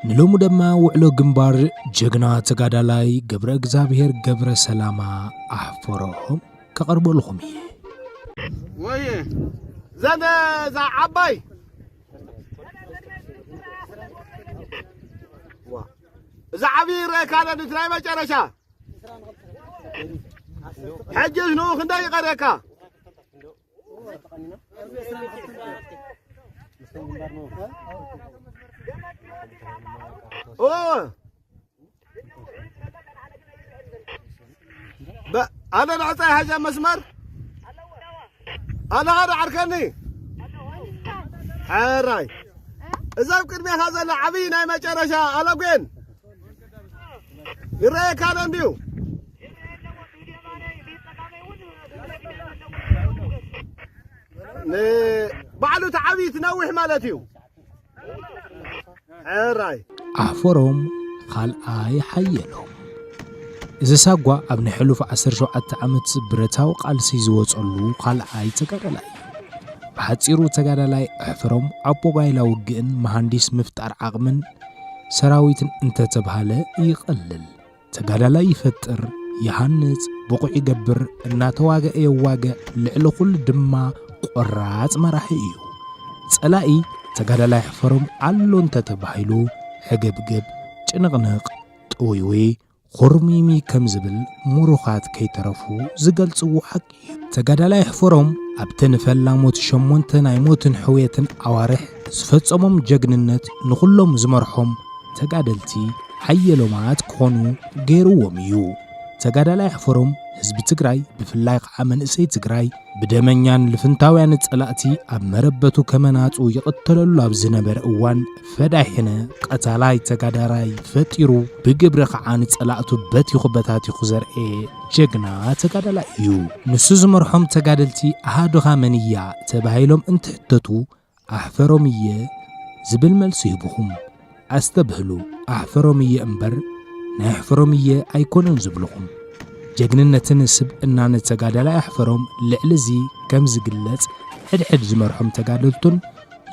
ንሎሚ ድማ ውዕሎ ግንባር ጀግና ተጋዳላይ ገብረ እግዚኣብሔር ገብረ ሰላማ ኣሕፈሮ ከቐርበልኹም እየ ወየ ዘን እዛ ዓባይ እዛ ዓብዪ ረእካለ ናይ መጨረሻ ሕጅስ ንኡ ክንደይ ይቐርየካ ኣለ ንዕፃይ ሃጃ መስመር ኣለኻ ዶ ዓርከኒ ሕራይ እዛ ኣብ ቅድሜኻ ዘላ ዓብዪ ናይ መጨረሻ ኣለጉን ይረኣየካ ኣሎ እንድዩ ንባዕሉ እቲ ዓብዪ እቲ ነዊሕ ማለት እዩ ሕራይ ኣሕፈሮም ኻልኣይ ሓየሎም እዚ ሳጓ ኣብ ናይ ሕሉፍ 17 ዓመት ብረታዊ ቃልሲ ዝወፀሉ ኻልኣይ ተጋዳላይ ብሓፂሩ ተጋዳላይ ኣሕፈሮም ኣቦ ጋይላ ውግእን መሃንዲስ ምፍጣር ዓቕምን ሰራዊት እንተተብሃለ ይቐልል፣ ተጋዳላይ ይፈጥር፣ ይሃንጽ፣ ብቑዕ ይገብር፣ እናተዋግአ የዋግዕ፣ ልዕሊ ኹሉ ድማ ቈራጽ መራሒ እዩ። ጸላኢ ተጋዳላይ ሕፈሮም ኣሎ እንተተባሂሉ ሕግብግብ፣ ጭንቕንቕ፣ ጥውይውይ ኹርሚሚ ከም ዝብል ሙሩኻት ከይተረፉ ዝገልጽዎ ሓቂ እዩ። ተጋዳላይ ኣሕፈሮም ኣብቲ ንፈላሞት ሸሞንተ ናይ ሞትን ሕውየትን ኣዋርሕ ዝፈጸሞም ጀግንነት ንኹሎም ዝመርሖም ተጋደልቲ ሓየሎማት ክኾኑ ገይርዎም እዩ። ተጋዳላይ ኣሕፈሮም ህዝቢ ትግራይ ብፍላይ ኸዓ መንእሰይ ትግራይ ብደመኛን ልፍንታውያን ጸላእቲ ኣብ መረበቱ ከመናጹ ይቕተለሉ ኣብ ዝነበረ እዋን ፈዳይ ሕነ ቐታላይ ተጋዳራይ ፈጢሩ ብግብሪ ኸዓ ንጸላእቱ በቲኹ በታቲኹ ዘርኤ ጀግና ተጋዳላይ እዩ። ንሱ ዝመርሖም ተጋደልቲ ኣሃዱኻ መን እያ ተባሂሎም እንትሕተቱ ኣሕፈሮም እየ ዝብል መልሲ ሂብኹም። ኣስተብህሉ ኣሕፈሮም እየ እምበር ናይ ኣሕፈሮም እየ ኣይኮነን ዝብልኹም። ጀግንነትን ስብእናን ተጋዳላይ ኣሕፈሮም ልዕሊ እዚ ከም ዝግለጽ ሕድሕድ ዝመርሖም ተጋደልቱን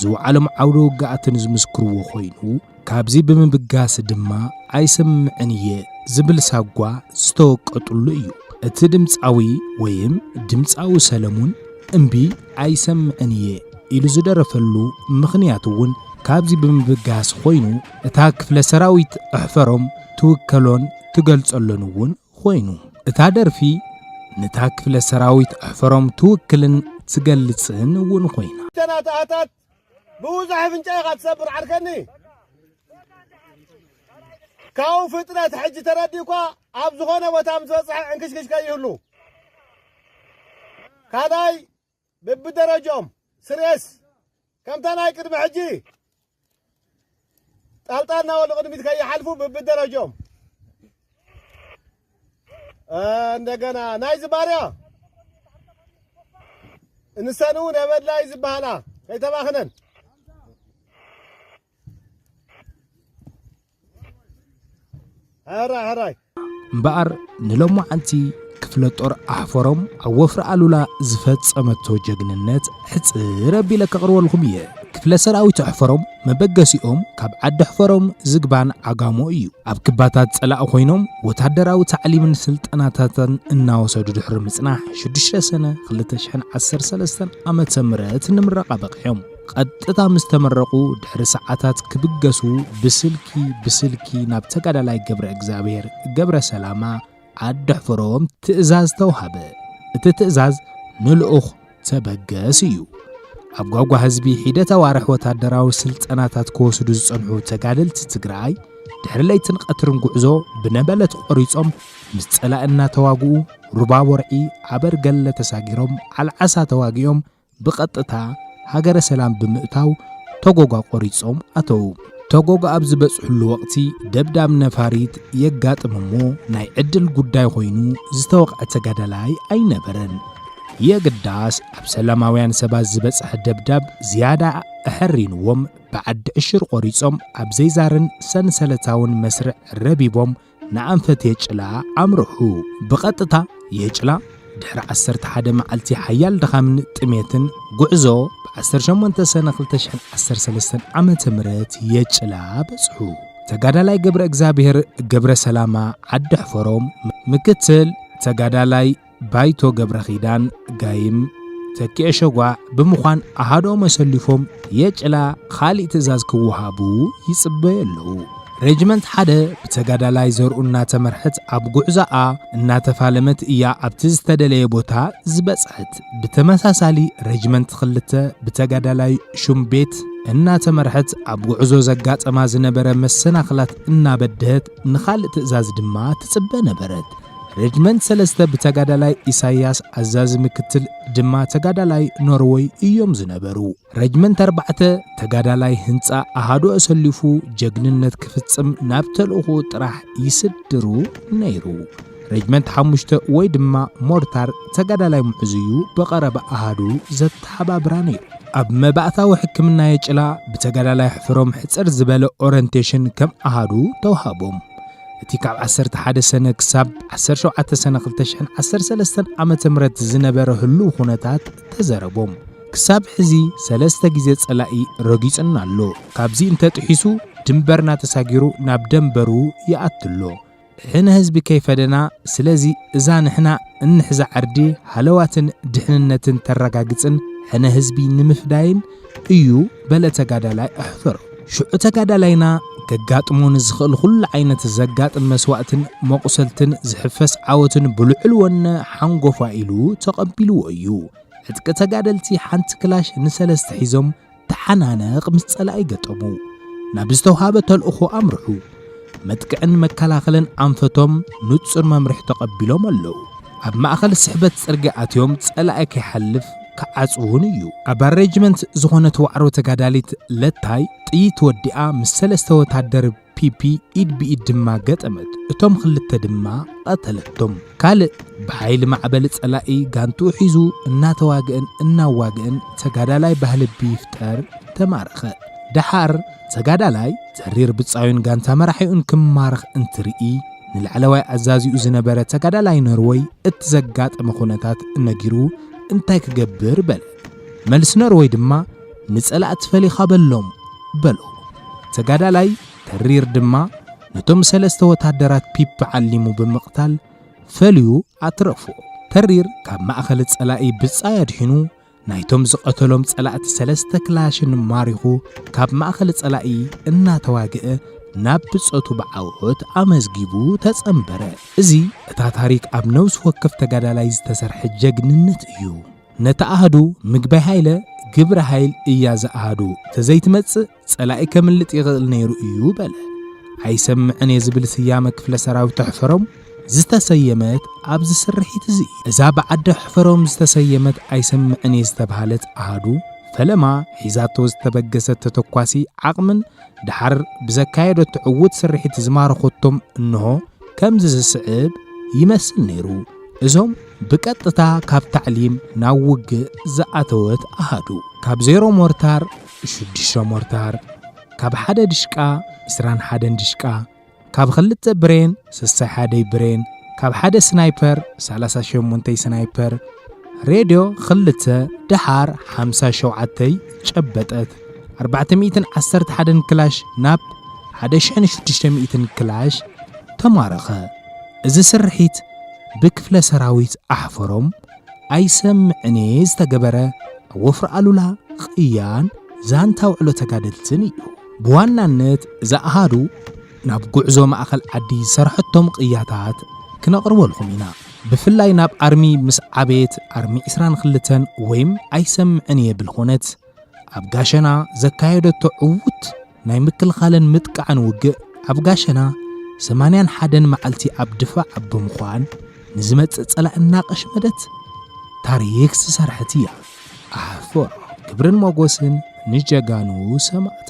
ዝውዓሎም ዓውደ ውግኣትን ዝምስክርዎ ኮይኑ ካብዚ ብምብጋስ ድማ ኣይሰምዕን እየ ዝብል ሳጓ ዝተወቀጡሉ እዩ። እቲ ድምፃዊ ወይም ድምፃዊ ሰለሙን እምቢ ኣይሰምዕን እየ ኢሉ ዝደረፈሉ ምኽንያት እውን ካብዚ ብምብጋስ ኮይኑ እታ ክፍለ ሰራዊት ኣሕፈሮም ትውከሎን ትገልጸሎን እውን ኮይኑ እታ ደርፊ ነታ ክፍለ ሰራዊት ኣሕፈሮም ትውክልን ትገልጽን እውን ኮይና ተናታኣታት ብብዙሕ ኣፍንጫ ኢኻ ትሰብር ዓርከኒ ካብኡ ፍጥነት ሕጂ ተረዲእኳ ኣብ ዝኾነ ቦታ ምስ በፅሐ ዕንክሽክሽ ከይህሉ ካልኣይ ብብደረጅኦም ስርኤስ ከምታ ናይ ቅድሚ ሕጂ ጣልጣል ናበሉ ቅድሚት ከይሓልፉ ብብደረጆም እንደገና ናይዚ ባርያ እንሰን እውን የበድላይ ዝበሃላ ከይተባኽነን All right, all right. እምበኣር ንሎማዓንቲ ክፍለ ጦር ኣሕፈሮም ኣብ ወፍሪ ኣሉላ ዝፈጸመቶ ጀግንነት ሕጽር ኣቢለ ከቕርበልኩም እየ። ክፍለ ሰራዊት ኣሕፈሮም መበገሲኦም ካብ ዓዲ ኣሕፈሮም ዝግባን ዓጋሞ እዩ። ኣብ ክባታት ጸላእ ኮይኖም ወታደራዊ ታዕሊምን ስልጠናታትን እናወሰዱ ድሕሪ ምጽናሕ 6 ሰነ 2013 ዓ ም ንምረቓ በቒዖም። ቐጥታ ምስ ተመረቑ ድሕሪ ሰዓታት ክብገሱ ብስልኪ ብስልኪ ናብ ተጋዳላይ ገብረ እግዚኣብሔር ገብረ ሰላማ ኣደሕፍሮም ትእዛዝ ተውሃበ። እቲ ትእዛዝ ንልኡኽ ተበገስ እዩ። ኣብ ጓጓ ህዝቢ ሒደት ኣዋርሕ ወታደራዊ ስልጠናታት ክወስዱ ዝጸንሑ ተጋደልቲ ትግራይ ድሕሪ ለይትን ቀትርን ጉዕዞ ብነበለት ቆሪጾም ምስ ጸላእ እናተዋግኡ ሩባ ቦርዒ ዓበርገለ ተሳጊሮም ዓልዓሳ ተዋጊኦም ብቐጥታ ሃገረ ሰላም ብምእታው ተጎጓ ቆሪጾም ኣተዉ። ተጎጓ ኣብ ዝበጽሕሉ ወቕቲ ደብዳብ ነፋሪት የጋጥም እሞ ናይ ዕድል ጉዳይ ኮይኑ ዝተወቕዐ ተጋዳላይ ኣይነበረን። የግዳስ ኣብ ሰላማውያን ሰባት ዝበጽሐ ደብዳብ ዝያዳ ኣሐሪንዎም ብዓዲ ዕሽር ቆሪጾም ኣብ ዘይዛርን ሰንሰለታውን መስርዕ ረቢቦም ንኣንፈት የጭላ ኣምርሑ። ብቐጥታ የጭላ ድሕሪ 11 መዓልቲ ሓያል ድኻምን ጥሜትን ጉዕዞ ብ18 ሰነ 2013 ዓ ም የጭላ በጽሑ። ተጋዳላይ ገብረ እግዚኣብሔር ገብረ ሰላማ ዓዲ ሕፈሮም ምክትል ተጋዳላይ ባይቶ ገብረኺዳን ጋይም ተኪኤ ሸጓዕ ብምዃን ኣሃዶም ኣሰሊፎም የጭላ ኻሊእ ትእዛዝ ክወሃቡ ይጽበዩ ኣለዉ። ሬጅመንት ሓደ ብተጋዳላይ ዘርኡ እናተመርሐት ኣብ ጉዕዛኣ እናተፋለመት እያ ኣብቲ ዝተደለየ ቦታ ዝበጽሐት። ብተመሳሳሊ ሬጅመንት ክልተ ብተጋዳላይ ሹም ቤት እናተመርሐት ኣብ ጉዕዞ ዘጋጠማ ዝነበረ መሰናኽላት እናበድሀት ንኻልእ ትእዛዝ ድማ ትጽበ ነበረት። ሬጅመንት ሰለስተ ብተጋዳላይ ኢሳያስ ኣዛዚ ምክትል ድማ ተጋዳላይ ኖርወይ እዮም ዝነበሩ። ሬጅመንት ኣርባዕተ ተጋዳላይ ህንፃ ኣሃዱ ኣሰሊፉ ጀግንነት ክፍጽም ናብ ተልእኹ ጥራሕ ይስድሩ ነይሩ። ሬጅመንት ሓሙሽተ ወይ ድማ ሞርታር ተጋዳላይ ምዑዝ እዩ ብቐረባ ኣሃዱ ዘተሓባብራ ነይሩ። ኣብ መባእታዊ ሕክምና የጭላ ብተጋዳላይ ሕፍሮም ሕፅር ዝበለ ኦረንቴሽን ከም ኣሃዱ ተውሃቦም። እቲ ካብ ዓሰርተ ሓደ ሰነ ክሳብ ዓሰርተ ሸውዓተ ሰነ ክልተ ሽሕን ዓሰርተ ሰለስተን ዓመተ ምህረት ዝነበረ ህሉው ኩነታት ተዘረቦም። ክሳብ ሕዚ ሰለስተ ግዜ ጸላኢ ረጊጹና ኣሎ። ካብዚ እንተጥሒሱ ድንበርና ተሳጊሩ ናብ ደንበሩ ይኣቱ ኣሎ። ሕነ ህዝቢ ከይፈደና፣ ስለዚ እዛ ንሕና እንሕዛ ዓርዲ ሃለዋትን ድሕንነትን ተረጋግጽን ሕነ ህዝቢ ንምፍዳይን እዩ በለ ተጋዳላይ ኣሕፍር። ሽዑ ተጋዳላይና ከጋጥሞ ንዝኽእል ኹሉ ዓይነት ዘጋጥም መስዋእትን መቑሰልትን ዝሕፈስ ዓወትን ብልዑል ወነ ሓንጎፋ ኢሉ ተቐቢልዎ እዩ። ዕጥቂ ተጋደልቲ ሓንቲ ክላሽ ንሰለስተ ሒዞም ተሓናነቕ ምስ ጸላኢ ገጠሙ። ናብ ዝተውሃበ ተልእኾ ኣምርሑ። መጥቅዕን መከላኸልን ኣንፈቶም ንጹር መምርሒ ተቐቢሎም ኣለዉ። ኣብ ማእኸል ስሕበት ጽርግያ ኣትዮም ጸላኢ ከይሓልፍ ክዓጽውን እዩ። ኣብ ኣሬጅመንት ዝኾነት ዋዕሮ ተጋዳሊት ለታይ ጥይት ወዲኣ ምስ ሰለስተ ወታደር ፒፒ ኢድ ብኢድ ድማ ገጠመት፣ እቶም ክልተ ድማ ቐተለቶም። ካልእ ብሓይሊ ማዕበል ጸላኢ ጋንትኡ ሒዙ እናተዋግእን እናዋግእን ተጋዳላይ ባህልቢ ይፍጠር ተማረኸ። ደሓር ተጋዳላይ ተሪር ብጻዩን ጋንታ መራሒኡን ክማረኽ እንትርኢ ንላዕለዋይ ኣዛዚኡ ዝነበረ ተጋዳላይ ኖርወይ እቲ ዘጋጠመ ኩነታት እነጊሩ እንታይ ክገብር በለ መልሲ ኖርወይ ድማ ንጸላእቲ ፈሊኻ በሎም በሎ ተጋዳላይ ተሪር ድማ ነቶም ሰለስተ ወታደራት ፒፒ ዓሊሙ ብምቕታል ፈልዩ ኣትረፎ። ተሪር ካብ ማእኸል ፀላኢ ብፃይ ኣድሒኑ ናይቶም ዝቐተሎም ፀላእቲ ሰለስተ ክላሽን ማሪኹ ካብ ማእኸል ፀላኢ እናተዋግአ ናብ ብፀቱ ብዓወት ኣመዝጊቡ ተፀምበረ። እዚ እታ ታሪክ ኣብ ነብሲ ወከፍ ተጋዳላይ ዝተሰርሐ ጀግንነት እዩ። ነቲ ኣሃዱ ምግበይ ሃይለ ግብረ ሃይል እያ ዝኣሃዱ ተዘይትመፅእ ጸላኢ ከምልጥ ይኽእል ነይሩ እዩ በለ። ኣይሰምዕን እየ ዝብል ስያመ ክፍለ ሰራዊት ኣሕፈሮም ዝተሰየመት ኣብዚ ስርሒት እዚ እዩ። እዛ ብዓዲ ኣሕፈሮም ዝተሰየመት ኣይሰምዕን እየ ዝተብሃለት ኣሃዱ ፈለማ ሒዛቶ ዝተበገሰት ተተኳሲ ዓቕምን ድሓር ብዘካየደቶ ዕዉት ስርሒት ዝማረኾቶም እንሆ ከምዚ ዝስዕብ ይመስል ነይሩ። እዞም ብቀጥታ ካብ ታዕሊም ናብ ውግእ ዝኣተወት ኣሃዱ ካብ ዜሮ ሞርታር ሽዱሽተ ሞርታር፣ ካብ ሓደ ድሽቃ ዕስራን ሓደን ድሽቃ፣ ካብ ክልተ ብሬን ሰሳይ ሓደይ ብሬን፣ ካብ ሓደ ስናይፐር ሰላሳ ሸሞንተይ ስናይፐር፣ ሬድዮ ክልተ፣ ደሓር ሓምሳ ሸውዓተይ ጨበጠት፣ ኣርባዕተ ሚእትን ዓሰርተ ሓደን ክላሽ ናብ ሓደ ሽሕን ሽዱሽተ ሚእትን ክላሽ ተማረኸ። እዚ ስርሒት ብክፍለ ሰራዊት ኣሕፈሮም ኣይሰምዕን'የ ዝተገበረ ኣብ ወፍሪ ኣሉላ ቕያን ዛንታ ውዕሎ ተጋደልትን እዩ። ብዋናነት እዛ ኣሃዱ ናብ ጉዕዞ ማእኸል ዓዲ ዝሰርሐቶም ቕያታት ክነቕርበልኩም ኢና። ብፍላይ ናብ ኣርሚ ምስ ዓበየት ኣርሚ 22 ወይም ኣይሰምዕን'የ ብልኾነት ኣብ ጋሸና ዘካየደቶ ዕዉት ናይ ምክልኻልን ምጥቃዕን ውግእ ኣብ ጋሸና ሰማንያን ሓደን መዓልቲ ኣብ ድፋዕ ኣብ ብምዃን ንዝመጽእ ጸላእ እናቐሽመደት ታሪክ ዝሰርሐት እያ ኣሕፎ ክብርን ሞጎስን ንጀጋኑ ሰማእታ